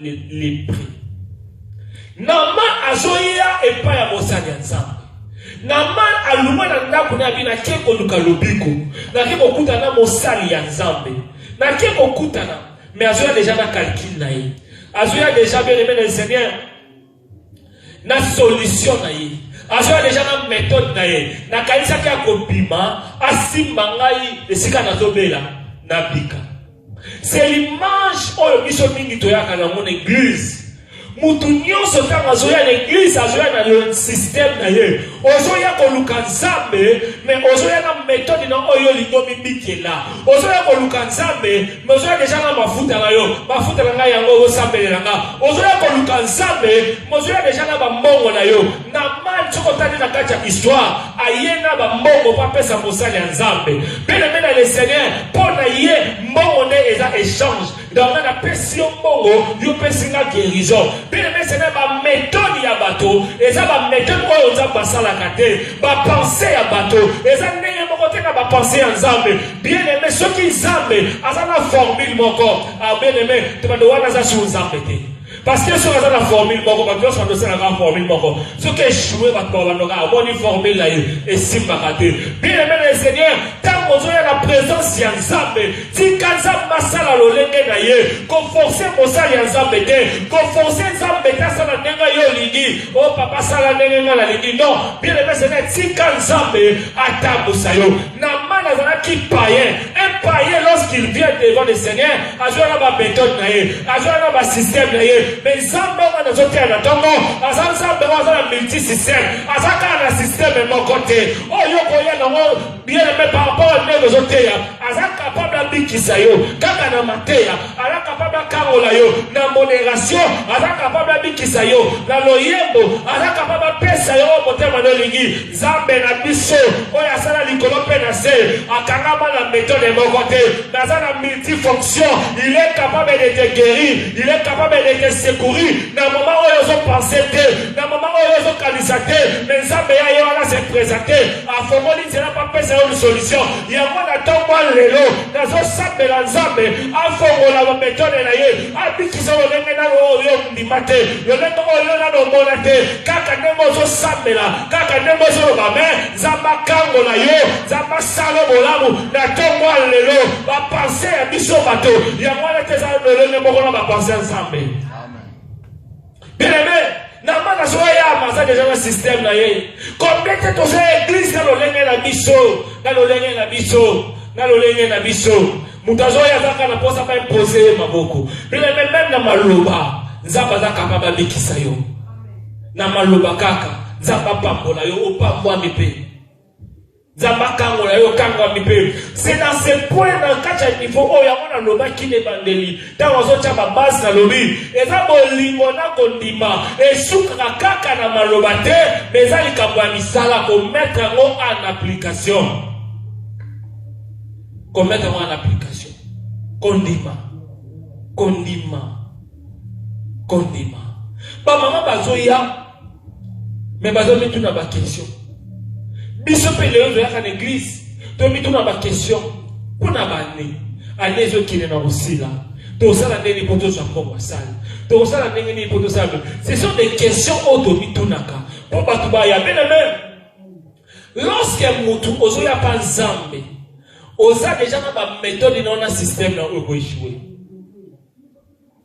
lepre nama azoya epai ya mosali ya nzambe nama aluma na ndako na yabi nake koluka lobiko nake kokutana na mosali ya nzambe nake kokutana me azoya deja na calcule na ye azoya deja bien aime na seigneur na solution na ye azoya deja na methode na ye nakanisaki akobima asimba ngai esika nazobela nabika c'est l'image oyo biso mingi toyaka nango na eglise moto nyonso ntango azoya na eglise azoya na systeme na ye ozoya koluka nzambe me ozoya na metode na oyo olingi omibikela ozoya koluka nzambe Mozwa deja nga mafuta na yo mafuta na ngai yango ozosambelela nga ozoya koluka nzambe mozwa deja na bambongo na yo na mali soki otali na kati ya histoire aye na bambongo mpo apesa mosali ya nzambe mpe na mena le seigneur mpo na ye mbongo nde eza échange donc nga napesi yo mbongo yo pesi nga guérison mpe na mesa na bametode ya bato eza bametode oyo nzambe asalaka te bapense ya bato eza ndenge moko te na bapense ya nzambe bien aime soki nzambe aza na formule moko ah, bien aime tobando wana aza sur nzambe te parce que soki aza na formule moko bato nyonso bandosalaka formule moko soki echoue bato babandoka amoni formule na ye esimbaka te bien aime le seigneur ntango ozoya na présence ya nzambe tika nzambe asala lolenge na ye koforce mosali ya nzambe te koforce nzambe te asala ndenge yo olingi o oh, papa asala ndenge ngai nalingi non bien aime seigneur tika nzambe atambusa yo Naman azalaki païen. Un païen, lorsqu'il vient devant le Seigneur, azwaka ba méthode na ye, azwaka ba système na ye. Mais Nzambe wana azoteya na ntongo, aza Nzambe wana aza na multi système, aza kaka na système moko te. Oyo okoya nango bien aimé par rapport à ndenge ozoteya, aza capable abikisa yo kaka na mateya, aza capable akangola yo na moderation, aza capable abikisa yo na loyembo, aza capable apesa yo motema na olingi. Nzambe na biso oyo asala likolo mpe na se akangama na metode moko te naza na multifonction il est capable de te guérir il est capable de te secourir na moma oyo ozopense te na moma oyo ozokanisa te me nzambe ya ye wana se présente afongoli nzela mpo apesa yo lisolution yango na ntongo lelo nazosambela nzambe afongola bametode na ye abikisa lolenge nano oyo ondima te lolenge oyo nano omona te kaka ndenge ozosambela kaka ndenge ozoloba me nzambe akango na yo nzambe asala bolamu na ntongo ya lelo bapense ya biso bato yango wana te eza lolenge moko na bapense ya nzambe Bebe, na maka soki eyama aza deja na systeme na ye komplete toza eglise na lolenge na biso na lolenge na biso na lolenge na biso moto azoya azaka na mposa baimpose ye maboko bebe meme na maloba nzambe aza kapa babikisa yo na maloba kaka nzambe apambola yo opambwami mpe nzambe akangola yo okangwami mpe se na se point na kati ya niveau oyo yango nalobaki na ebandeli ntango azotya babase nalobi eza bolingo na kondima esukaka kaka na maloba te ma eza likambo ya misala kometre yango en application kometre yango en application kondima kondima kondima bamama bazoya me bazo mituna ba question biso mpe lelo toyaka na eglize tomituna ba question mpo na bane ane ezokende na kosila tosala ndenge mpo tozwa mbongo ya sale tosala ndenge nini mpo tosala ce sont des questions oyo tomitunaka mpo bato baya mpe na meme lorsque motu ozoya mpa nzambe oza deja na bametode na yo na systeme na oyo ekoechoue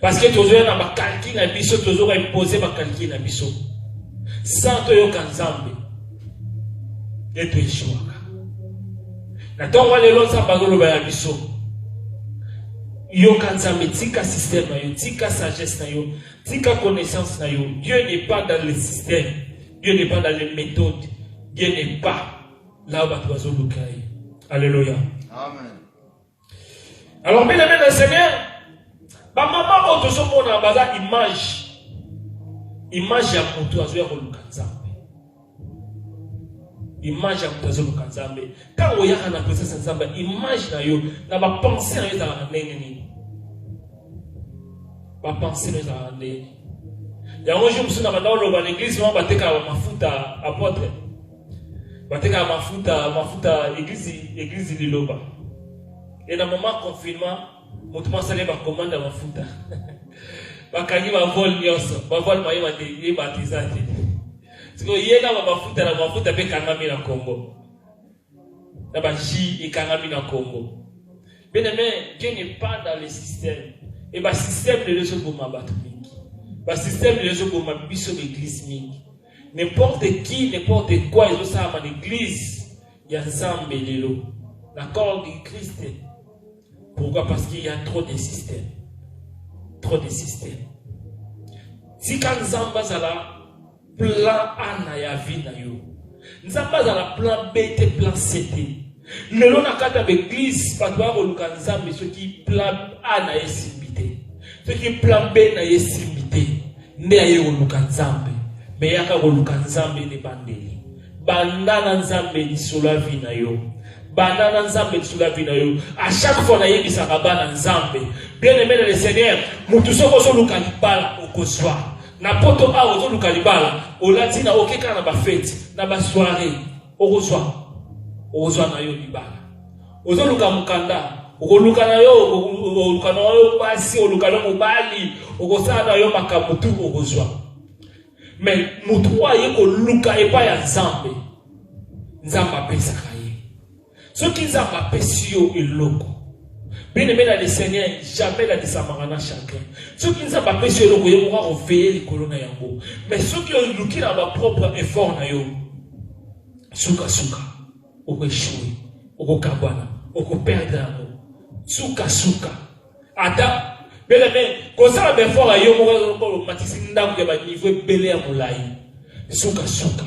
Parce que tozoya na bakalki na biso tozoka impose bakalki na biso sans toyoka nzambe nde toeshuaka na ntongo ya lelo nzambe azoloba ya biso yoka nzambe tika système na yo tika sagesse na yo tika connaissance na yo dieu n'est pas dans le système dieu n'est pas dans les méthodes dieu n'est pas là bato bazoluka ye alleluya amen Alors, bien aimé le Seigneur, ba maman oyo tozomona baza image image ya moto azoya koluka nzambe image ya moto azoluka nzambe ntango oyaka na presence ya nzambe image na yo na bapense na yo ezalaka ndenge nini bapense na yo ezalaka ndenge nini yango jour mosusu na banda oloba na eglise wana batekaka bamafuta apotre batekaka mafuta mafuta eglise eglise liloba e na mama confinement motu masali bakomanda mafuta bakangi bavole nyonso bavole mayeba te ye bato eza te sikoyo ye na bamafuta na mafuta mpe ekangami na congo na baji ekangami na congo bien aime dieu n'est pas dans le système e basystème lelo ezoboma bato mingi basystème lelo ezoboma biso baeglise mingi N'importe qui, n'importe quoi ezosalama na eglise ya Nzambe lelo na corps du Christ. Pourquoi? Parce qu'il y a trop de systèmes. Trop de systèmes. Tika Nzambe azala plan A na ya vie na yo. Nzambe azala plan B te plan C te. lelo na kati ya baeglise bato baya koluka nzambe soki plan a na ye esimbi te soki plan b na ye esimbi te nde aye koluka nzambe me yaka koluka nzambe na ebandeli banda na nzambe lisolo ya vi na yo banda na nzambe lisolo ya vi na yo a chaque fois nayebisaka bana nzambe bien aime na le seigneur motu soki ozoluka libala okozwa na poto awa ozoluka libala olati na okekaka na bafeti na basoiree okozwa okozwa na yo libala ozoluka mokanda okoluka na yo okoluka na yo basi oluka na mobali okosala na yo makambo tu okozwa me motu oyo aye koluka epai ya nzambe nzambe apesaka soki nzambe apesi yo eloko bien aimé na le seigneur jamais ladisamaka na chacun soki nzambe apesi yo eloko ye moko akofeye likolo na yango mais soki oluki na bapropre effort na yo sukasuka okoechoue okokabwana okoperdre yango sukasuka ata bien aimé kosala baeffort ya yo moko omatisi ndako ya baniveau ebele ya molai sukasuka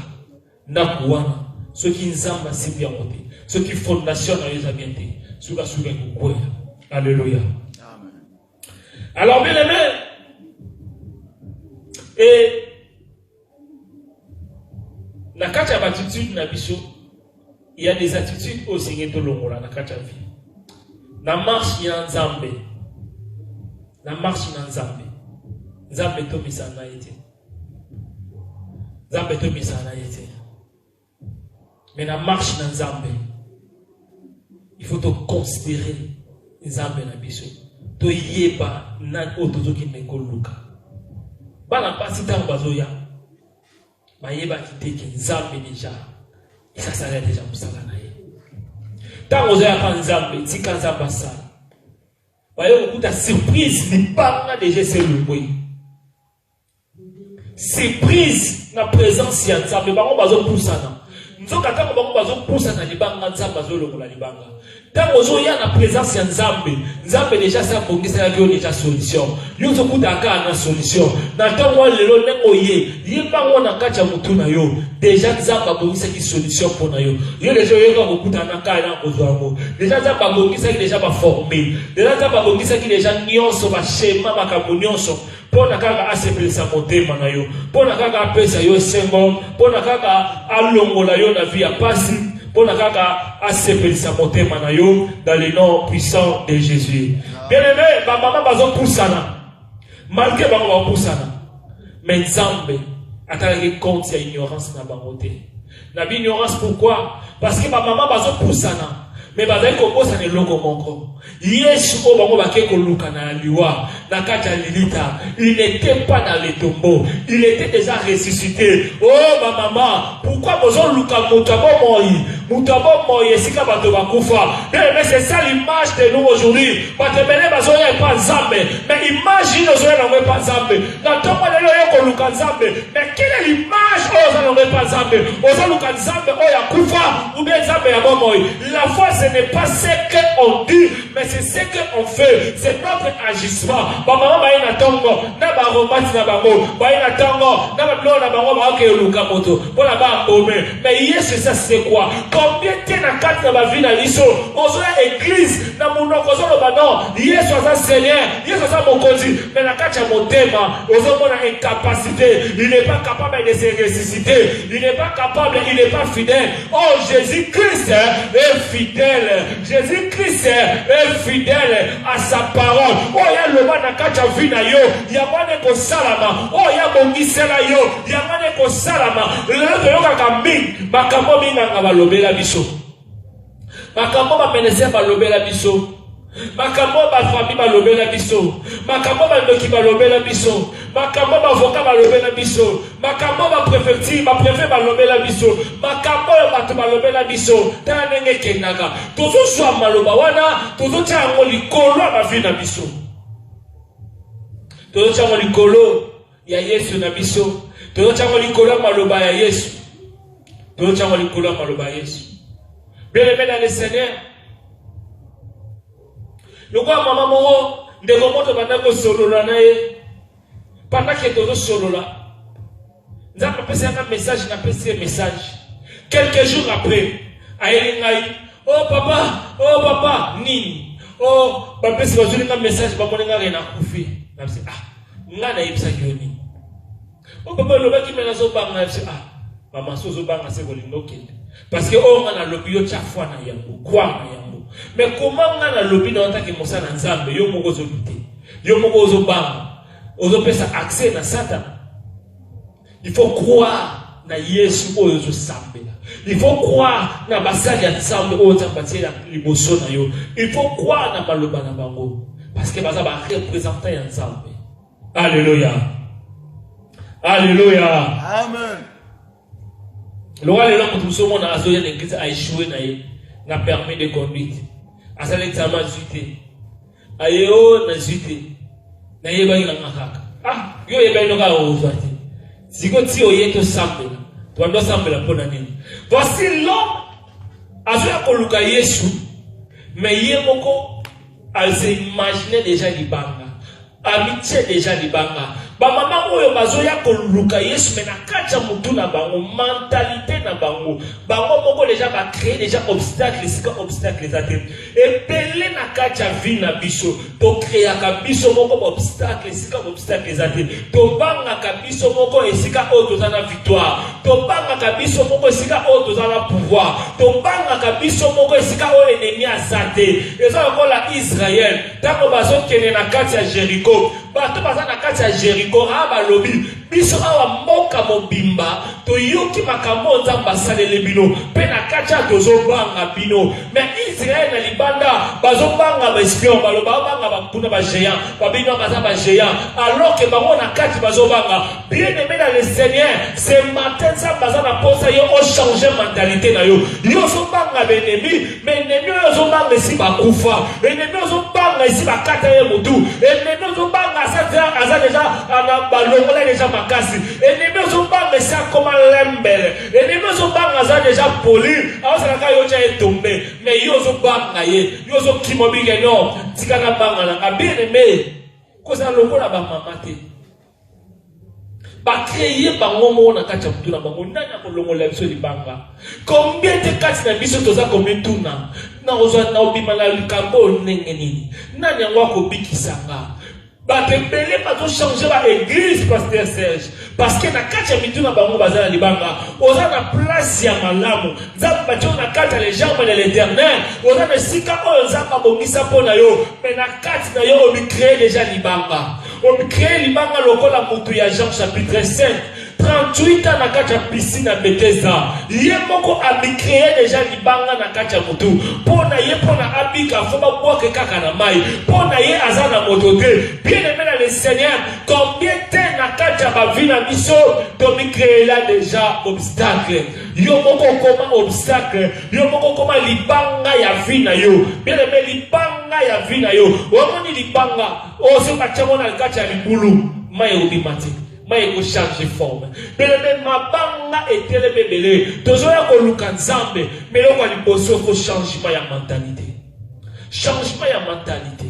ndako wana soki nzambe asimbi yango te soki fondation na yo eza bien te sukasuka ekokwea alleluya alors bien aimé e na kati ya baatitude na biso ya des attitudes oyo esengeli tolongola na kati ya vie na marche ya nzambe na marche na nzambe nzambe tomisana ye te nzambe toyebisaka na ye te me na marche na nzambe il faut toconsidere nzambe na biso toyeba nani oyo tozokende koluka bana mpasi ntango bazoya bayebaki te ke nzambe deja esasala deja mosala na ye ntango ozoyaka nzambe tika nzambe asala baye kokuta surprise libanga deja eselongwe surprise na presence ya nzambe bango bazopusana nzoka ntango bango bazopusana libanga nzambe azolongola libanga ntango ozoya na presence ya nzambe nzambe deja asi abongiselaki yo deja solution yo ozokutaka kaka na solution na ntango wana lelo ndenge oye yebango na kati ya motu na yo deja nzambe abongisaki solution mpo na yo yo deja oyoka kokutana na kaya na kozwa yango deja nzambe abongisaki deja baforme deja nzambe abongisaki deja nyonso bashema makambo nyonso mpo na kaka asepelisa motema na yo mpo na kaka apesa yo esengo mpo na kaka alongola yo na vi ya mpasi mpo na kaka asepelisa motema na yo dans le nom puissant de jésus bien aimé bamama bazopusana malgre bango bakopusana me nzambe atalaki compte ya ignorance na bango te na bignorance pourquoi parce que bamama bazopusana me bazali kobosana eloko moko yesu oyo bango bake koluka na liwa na kati ya lilita il n'était pas dans le tombeau il était déjà ressuscité o oh, bamama pourkui bozoluka moto ya bomoi moto ya bomoi esika bato bakufa mais c'est ça l'image de nous aujourd'hui bato ebele bazoya epa nzambe mais image ino ozoya nango epa nzambe na ntongo lelo oye koluka nzambe Mais quelle est l'image oyo oza nango epa nzambe oza luka nzambe oyo akufa ou bien nzambe ya bomoi la foi ce n'est pas ce que on dit mais c'est ce que on fait c'est notre agissement bamama baye na ntongo na baromati na bango baye na ntongo na babiloko na bango baokeye luka moto mpo na baabome mais yesu esa c'est quoi combien te na kati na bavi na biso ozoya église na monoko ozoloba non yesu aza seigneur yesu aza mokonzi mais na kati ya motema ozomona incapacité il n'est pas capable de se ressusciter il n'est pas capable il n'est pas fidèle oh jésus christ est fidèle jésus christ est fidèle à sa parole oyo oh, yaloba na kati ya vi na yo yango wana ekosalama oyo oh, yabongisela yo yango wana ekosalama lelo toyokaka mingi makambo minganga balobela biso makambo bamenese balobela biso makambo oyo bafami balobela biso makambo bandoki balobela biso makambo bavoka balobela biso makambo baprefecture baprefe balobela biso makambo oyo bato balobela biso tala ndenge ekendaka tozozwa maloba wana tozotya yango likolo ya bavi na biso tozotya yango likolo ya yesu na biso toyotyango likolo ya maloba ya yesu toyotyango likolo ya maloba ya yesu beleme na le seigneur lokola mama moko ndeko moto banda kosolola na ye pandake tozosolola nzambe apesi yanga message napesi ye message quelques jours après ayeli ngai o oh, papa o oh, papa nini o oh, bapesi bazweli nga message bamoni nga ke nakufi nabisi ah nga nayebisaki yo nini o papa olobaki me nazobanga yebisi ah mama so ozobanga se kolinga okende parce que oyo nga nalobi yo tya foi na yango kwa na yango me koma nga nalobi na otaki mosala nzambe yo moko ozodute yo moko ozobanga ozopesa accès na satana il faut croire na yesu oyo ozosambela il faut croire na basali ya nzambe oyo nzambe atie liboso na yo il faut croire na maloba na bango parce que baza barepresentant ya nzambe alleluya alleluya amen lokola lelo moto mosusu omona azoya na eglise aechoue na ye na permis de conduite asala examen azwi te aye o oh, nazwi te nayebaki nanga kaka ah yo oyebaki no kaka ozwa te siko ti oye tosambela tobandi osambela mpo na nini voici l'homme azoya koluka yesu me ye moko aze imagine deja libanga amitie deja libanga bamama oyo bazoya koluka yesu me na kati ya motu na bango mentalite na bango bango moko deja bacree deja obstacle esika obstacle eza te ebele na kati ya vie na biso tokreaka biso moko baobstacle esika baobstacle eza te tobangaka biso moko esika oyo toza na victoire tobangaka biso moko esika oyo toza na pouvoir tobangaka biso moko esika oyo enemi aza te eza lokola israel ntango bazokende na kati ya jeriko bato baza na kati ya jeriko aa balobi Biso awa mboka mobimba toyoki makambo oyo Nzambe asaleli bino, mpe na kati awa tozobanga bino. Me Israel na libanda bazobanga baespion, baloba babanga bakuna bageant, babino baza bageant, alors ke bango na kati bazobanga. Bien aime na le Seigneur, ce matin Nzambe aza na posa yo ochange mentalite na yo, yo ozobanga baennemi Mais ennemi oyo ozobanga esi bakufa ennemi ozobanga esi bakata ye motu ennemi ozobanga aza deja balongola deja makasi ennemi ozobanga esi akoma lembele ennemi ozobanga aza deja poli aosalaka yo tya ye tombe mais yo ozobanga ye yo ozokima obike no tika nabanga nanga bien aime kozala lokola bamama te bacreye bango moko na kati ya motu na bango nani akolongolela biso libanga kombien te kati na biso toza komituna nakozwa naobima na likambo oyo ndenge nini nani yango akobikisa nga bato ebele bazochange baeglise paster serge parceke na kati ya mitu na bango baza na libanga oza na place ya malamu nzambe batio na kati ya legerme de l'éternel oza na esika oyo nzambe abongisa mpo na yo me na kati na yo omikree deja libanga On crée libanga lokola mutu ya Jean chapitre 5 38 ans na kati ya piscine ya Bethesda ye moko amicreye deja libanga na kati ya mutu mpo na ye mpo na abika fo babwake kaka na mai mpo na ye aza na moto te bien aime na le seigneur combien te na kati ya bavi na biso tomicreela deja obstacle yo moko okoma obstacle yo moko okoma libanga ya vi na yo bien aime libanga ya vi na yo omoni libanga oyo soki batya yango na kati ya libulu mai ekobima te mai ekochange forme belebe mabanga etelemi ebele tozoya koluka nzambe meloko ya liboso fo changement ya mentalite changement ya mentalite